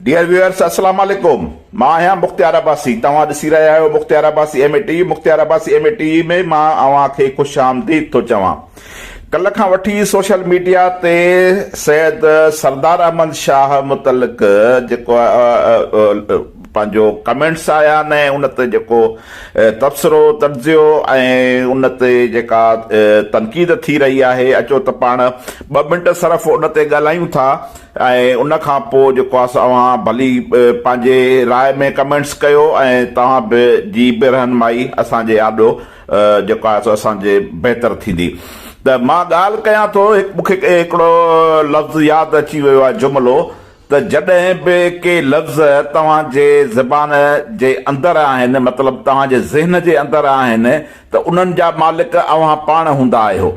Dear viewers السلام عليڪم مان آهيان مختيار عباسي توهان ڏسي رهيا آهيو Mukhtiar Abbasi M A T Mukhtiar Abbasi M A T ۾ مان اوهان کي خوش آمديد ٿو چوان ڪلهه کان وٺي سوشل ميڊيا تي سيد سردار احمد شاهه متعلق جيڪو پنهنجو ڪمينٽس آيا نه ان تي جيڪو تبصرو تجزيو ۽ ان تي جيڪا تنقيد ٿي رهي آهي اچو ته پاڻ ٻه منٽ صرف ان تي ڳالهايون ٿا ۽ ان کان پوء جيڪو آهي سو اوهان ڀلي پنهنجي راء ۾ ڪمينٽس ڪيو ۽ توهان به جي به رهنمائي اسان جي آڏو جيڪو آهي سو اسان جي بهتر ٿيندي ته مان ڳالهه ڪيان ٿو مون کي هڪڙو لفظ ياد اچي ويو آهي جملو ته جڏهن به ڪي لفظ توهان جي زبان جي اندر آهن، مطلب توهان جي ذهن جي اندر آهن، ته انهن جا مالڪ اوهان پاڻ هوندا آهيو.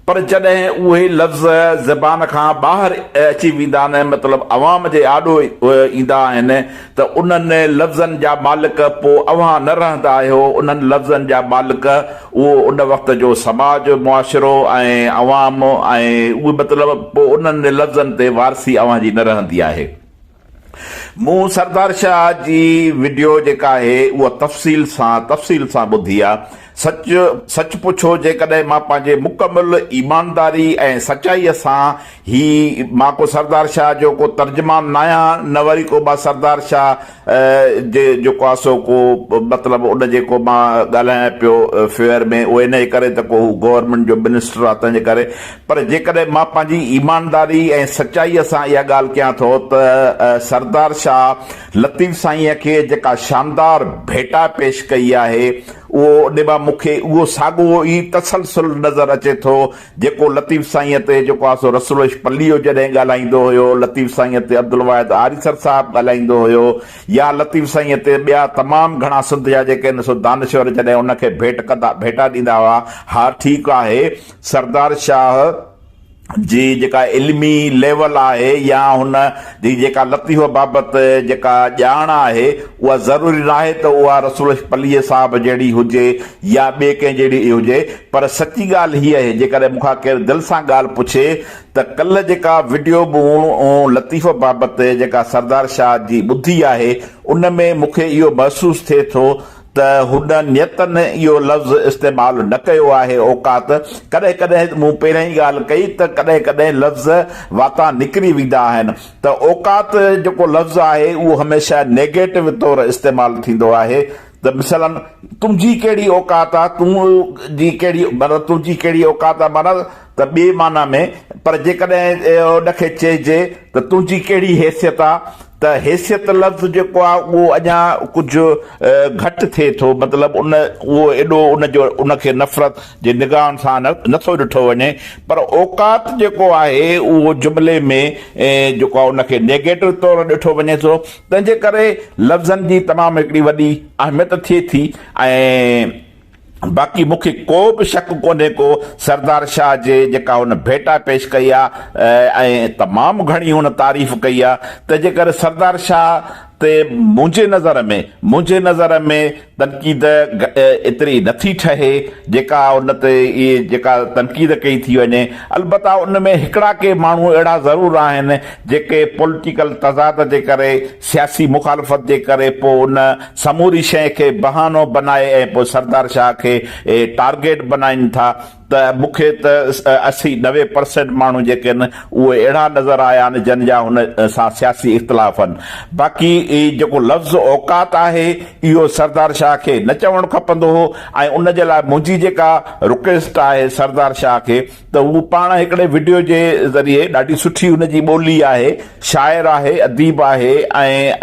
پر جڏهن اهي لفظ زبان کان ٻاهر اچي ويندا آهن، مطلب عوام جي آڏو ايندا آهن، ته انهن لفظن جا مالڪ پوء اوهان نه رهندا آهيو، انهن لفظن جا مالڪ اهو ان وقت جو سماج، معاشرو ۽ عوام ۽ اهي مطلب پوء انهن لفظن تي وارثي اوهان جي نه رهندي آهي. مون سردار شاهه جي وڊيو جيڪا آهي اها تفصيل سان تفصيل سان ٻڌي آ. سچ سچ پڇو جيڪڏهن مان پنهنجي مڪمل ايمانداري ۽ سچائيء سان هي مان ڪو سردار شاهه جو ڪو ترجمان ناهيان نه وري ڪو مان سردار شاهه جي جيڪو آهي سو ڪو مطلب ان جي ڪو مان ڳالهايان پيو فيور ۾ اهو انهي ڪري ته ڪو هو گورنمينٽ جو منسٽر آهي تنهنجي ڪري پر جيڪڏهن مان پنهنجي ايمانداري ۽ سچائي سان اها ڳالهه ڪيان ٿو ته سردار شاهه لطيف سائينء کي جيڪا شاندار ڀيٽا پيش ڪئي آهي اهو ان مان مون کي اهو ساڳو ئي تسلسل نظر اچي ٿو جيڪو لطيف سائينء تي جيڪو آسو رسول عشق پليو جڏهن ڳالهائيندو هيو، لطيف سائينء تي عبدالواحد آريسر صاحب ڳالهائيندو هيو يا لطيف سائينء تي ٻيا تمام گهڻا سنڌ جا جيڪي هن سو دانشور جڏهن ان کي ڀيٽ ڪندا ڀيٽا ڏيندا هئا ها ٺيڪ آهي سردار شاهه جي جيڪا علمي ليول آهي يا هن جي جيڪا لطيف بابت جيڪا ڄاڻ آهي اها ضروري ناهي ته اها رسول عشق پليء صاحب جهڙي هجي يا ٻي ڪنهن جهڙي هجي پر سچي ڳالهه هيء اهي جيڪڏهن مون کان ڪير دل سان ڳالهه پڇي ته ڪلهه جيڪا وڊيو مون لطيف بابت جيڪا سردار شاهه جي ٻڌي آهي ان ۾ مون کي اهو محسوس ٿئي ٿو ته هن نيتن اهو لفظ استعمال نه ڪيو آهي اوقات ڪڏهن ڪڏهن مون پهرئين ڳالهه ڪئي ته ڪڏهن ڪڏهن لفظ واتان نڪري ويندا آهن ته اوقات جيڪو لفظ آهي اهو هميشه نيگيٽو طور استعمال ٿيندو آهي ته مثلاً تنهنجي ڪهڙي اوقات آ، تون جي ڪهڙي معنيٰ تنهنجي ڪهڙي اوقات آ معنيٰ ته ٻي معنيٰ ۾ پر جيڪڏهن ان کي چئجي ته تنهنجي ڪهڙي حيثيت آ ته حيثيت لفظ جيڪو آ اهو اڃا ڪجهه گهٽ ٿئي ٿو مطلب ان اهو ايڏو ان جو ان کي نفرت جي نگاهن سان نه ٿو ڏٺو وڃي پر اوقات جيڪو آهي اهو جملي ۾ جيڪو آ ان کي نيگيٽو طور ڏٺو وڃي ٿو تنهن جي ڪري لفظن جي تمام هڪڙي وڏي اهميت ٿئي ٿي ۽ باقي مون کي ڪو به شڪ ڪونهي ڪو سردار شاهه جي جيڪا هن ڀيٽا پيش ڪئي آ ۽ تمام گهڻي هن تعريف ڪئي آ تنهن جي ڪري سردار شاهه تي منهنجي نظر ۾ منهنجي نظر ۾ تنقيد ايتري نه ٿي ٺهي جيڪا ان تي جيڪا تنقيد ڪئي ٿي وڃي البته ان ۾ هڪڙا ڪي ماڻهو اهڙا ضرور آهن جيڪي پوليٽيڪل تضاد جي ڪري سياسي مخالفت جي ڪري پوء ان سموري شيء کي بهانو بنائي ۽ پوء سردار شاهه کي ٽارگيٽ بنائين ٿا ته مون کي ته اسي نوي پرسينٽ ماڻهو جيڪي آهن اهي اهڙا نظر آيا آهن جن جا هن سان سياسي اختلاف آهن باقي جيڪو لفظ اوقات آهي اهو سردار شاهه کي نه چوڻ کپندو هو ۽ ان جي لاء منهنجي جيڪا رڪويسٽ آهي سردار شاهه کي ته هو پاڻ هڪڙي وڊيو جي ذريعي ڏاڍي سٺي هن جي ٻولي آهي شاعر آهي، اديب آهي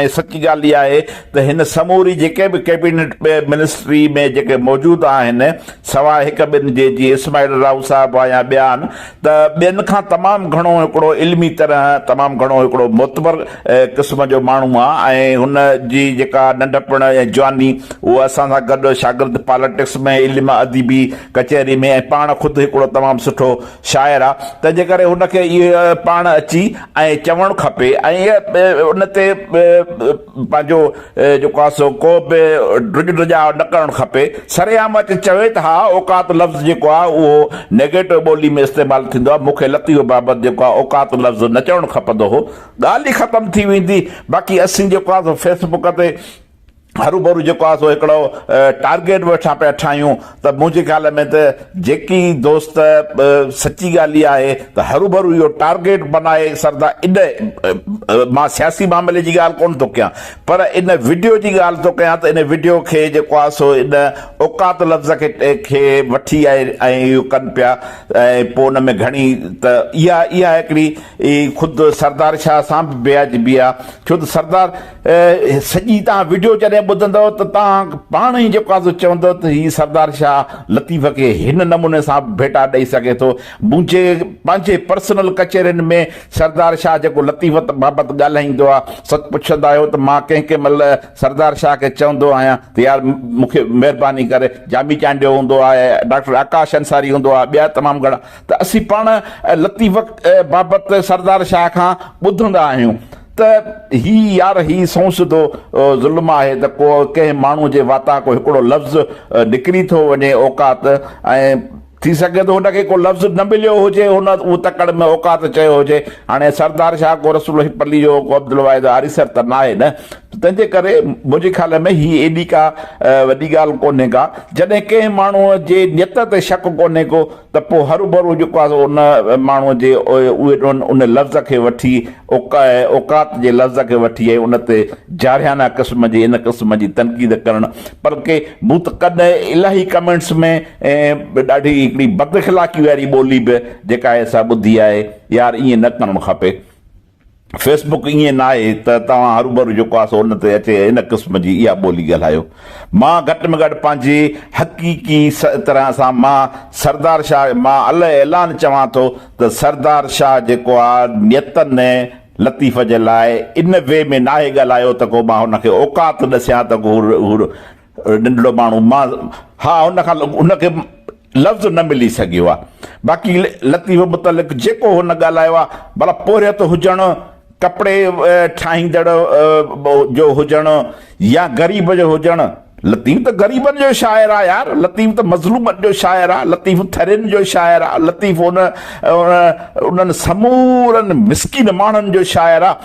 ۽ سچ ڳالهه اها آهي ته هن سموري جيڪي به ڪيبينٽ منسٽري ۾ جيڪي موجود آهن سواء هڪ ٻن جي جيئن اسماعيل راهو صاحب يا ٻيا آهن ته ٻين کان تمام گهڻو هڪڙو علمي طرح تمام گهڻو هڪڙو معتبر قسم جو ماڻهو آ ۽ هن جي جيڪا ننڍپڻ ۽ جواني اهو اسان سان گڏ شاگرد پالٽڪس ۾ علم ادبي ڪچهري ۾ ۽ پاڻ خود هڪڙو تمام سٺو شاعر آ، تنهنجي ڪري هن کي اهي پاڻ اچي ۽ چوڻ کپي ۽ ان تي پنهنجو جيڪو آ سو ڪو به ڊڄ ڊڄاء نه ڪرڻ کپي، سرعام اچي چوي ته ها اوقات لفظ جيڪو آ اهو نيگيٽو ٻولي ۾ استعمال ٿيندو آ، مون کي لطيف بابت جيڪو آ اوقات لفظ نه چوڻ کپندو هو، ڳالهه ئي ختم ٿي ويندي، باقي اسين جيڪو آ سو فيسبوڪ تي. هروڀرو جيڪو آهي سو هڪڙو ٽارگيٽ به وٺان پيا ٺاهيون ته منهنجي خيال ۾ ته جيڪي دوست سچي ڳالهه اها آهي ته هروڀرو اهو ٽارگيٽ بنائي سردا اڏ مان سياسي معاملي جي ڳالهه ڪونه ٿو ڪيان پر ان وڊيو جي ڳالهه ٿو ڪيان ته ان وڊيو کي جيڪو آهي سو ان اوقات لفظ کي وٺي ۽ اهو ڪن پيا ۽ پوء ان ۾ گهڻي ته اها اها هڪڙي خود سردار شاهه سان به بيعجبي آهي ڇو ته سردار سڄي توهان وڊيو جڏهن ٻڌندؤ ته توهان پاڻ ئي جيڪو آهي سو چوندؤ ته هي سردار شاهه لطيف کي هن نموني سان به ڀيٽا ڏئي سگهي ٿو. منهنجي پنهنجي پرسنل ڪچهرين ۾ سردار شاهه جيڪو لطيف بابت ڳالهائيندو آهي سو پڇندا آهيو ته مان ڪنهن ڪنهن مهل سردار شاهه کي چوندو آهيان ته يار مون کي مهرباني ڪري جامي چانڊيو هوندو آهي ڊاڪٽر آڪاش انصاري هوندو آهي ٻيا تمام گهڻا ته اسين پاڻ لطيف بابت سردار شاهه کان ٻڌندا آهيون. ته هي يار هي سنئون سڌو ظلم آهي ته ڪو ڪنهن ماڻهو جي واتان ڪو هڪڙو لفظ نڪري ٿو وڃي اوقات ۽ ٿي سگهي ٿو هن کي ڪو لفظ نه مليو هجي هن اهو تڪڙ ۾ اوقات چيو هجي هاڻي سردار شاهه ڪو رسول الهي پلي جو ڪو عبدالواحد آريسر ته ناهي نه تنهن جي ڪري منهنجي خيال ۾ هي ايڏي ڪا وڏي ڳالهه ڪونهي ڪا جڏهن ڪنهن ماڻهو جي نيت تي شڪ ڪونهي ڪو ته پوء هروڀرو جيڪو آهي سو ان ماڻهوء جي ان لفظ کي وٺي اوقات جي لفظ کي وٺي ۽ ان تي جارحيانه قسم جي ان قسم جي تنقيد ڪرڻ بلڪه مون ته ڪڏهن الاهي ڪمينٽس ۾ ڏاڍي هڪڙي بد اخلاقي واري ٻولي به جيڪا آهي سا ٻڌي آهي يار ائين نه ڪرڻ کپي فيس بڪ ائين ناهي ته توهان هروڀرو جيڪو آسو ان تي اچي ان قسم جي اها ٻولي ڳالهايو. مان گهٽ ۾ گهٽ پنهنجي حقيقي طرح سان مان سردار شاهه مان اله اعلان چوان ٿو ته سردار شاهه جيڪو آ نيتن ۽ لطيف جي لاء ان وي ۾ ناهي ڳالهايو ته ڪو مان هن کي اوقات ڏسيان ته هو ڏنڊڙو ماڻهو مان ها هن کان هن کي لفظ نه ملي سگهيو آهي باقي لطيف متعلق جيڪو هن ڳالهايو آهي ڀلا پورهيت هجڻ ڪپڙي ٺاهيندڙ جو هجڻ يا غريب جو هجڻ لطيف ته غريبن جو شاعر آهي يار لطيف ته مظلومن جو شاعر آهي لطيف ٿرين جو شاعر آهي لطيف ان انهن سمورن مسڪين ماڻهن جو شاعر آهي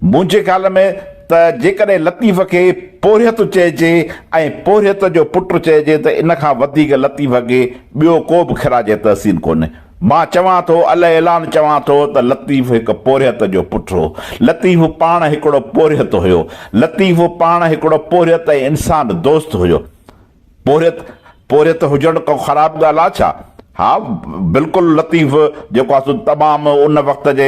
منهنجي خيال ۾ ته جيڪڏهن لطيف کي پورهيت چئجي ۽ پورهيت جو پٽ چئجي ته ان کان وڌيڪ لطيف کي ٻيو ڪو به خراج تحسين ڪونهي. مان چوان ٿو، الاعلان چوان ٿو ته لطيف هڪ پورهيت جو پٽ هو. لطيف پاڻ هڪڙو پورهيت هيو. لطيف پاڻ هڪڙو پورهيت ۽ انسان دوست هيو. پورهيت پورهيت هجڻ ڪو خراب ڳالهه آ ڇا؟ ها بلڪل لطيف جيڪو آ سو تمام ان وقت جي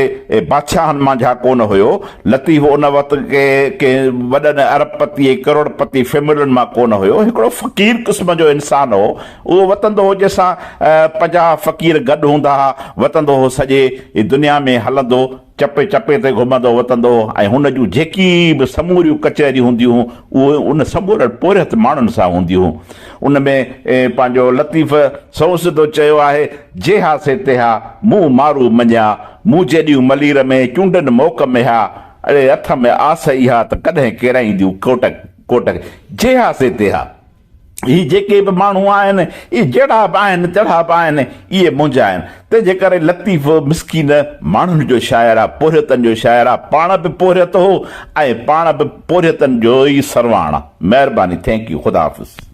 بادشاهن مانجها ڪونه هيو. لطيف ان وقت جي ڪنهن وڏن ارب پتي ۽ ڪروڙ پتي فيملين مان ڪونه هيو. هڪڙو فقير قسم جو انسان هو. اهو وتندو هو جنهن سان پنجاهه فقير گڏ هوندا ها. وتندو هو سڄي دنيا ۾ هلندو. چپي چپي تي گهمندو وتندو هو ۽ هن جون جيڪي به سموريون ڪچهريون هونديون هون اهي ان سمورن پورهيت ماڻهن سان هونديون هون ان ۾ پنهنجو لطيف سنئس ڏو چيو آهي جيها سي تيها مون مارو مڃيا مون جيڏيون ملير ۾ چونڊن موڪ ميها اڙي اٿ م آس اها ته ڪڏهن ڪيرائينديون ڪوٽڪ ڪوٽڪ جيها سي تيها. هي جيڪي به ماڻهو آهن، اهي جهڙا به آهن، تهڙا به آهن، اهي منهنجا آهن. تنهن جي ڪري لطيف مسڪين ماڻهن جو شاعر آ، پورهيتن جو شاعر آ، پاڻ به پورهيت هو ۽ پاڻ به پورهيتن جو ئي سرواڻ آ. مهرباني Thank you خدا حافظ.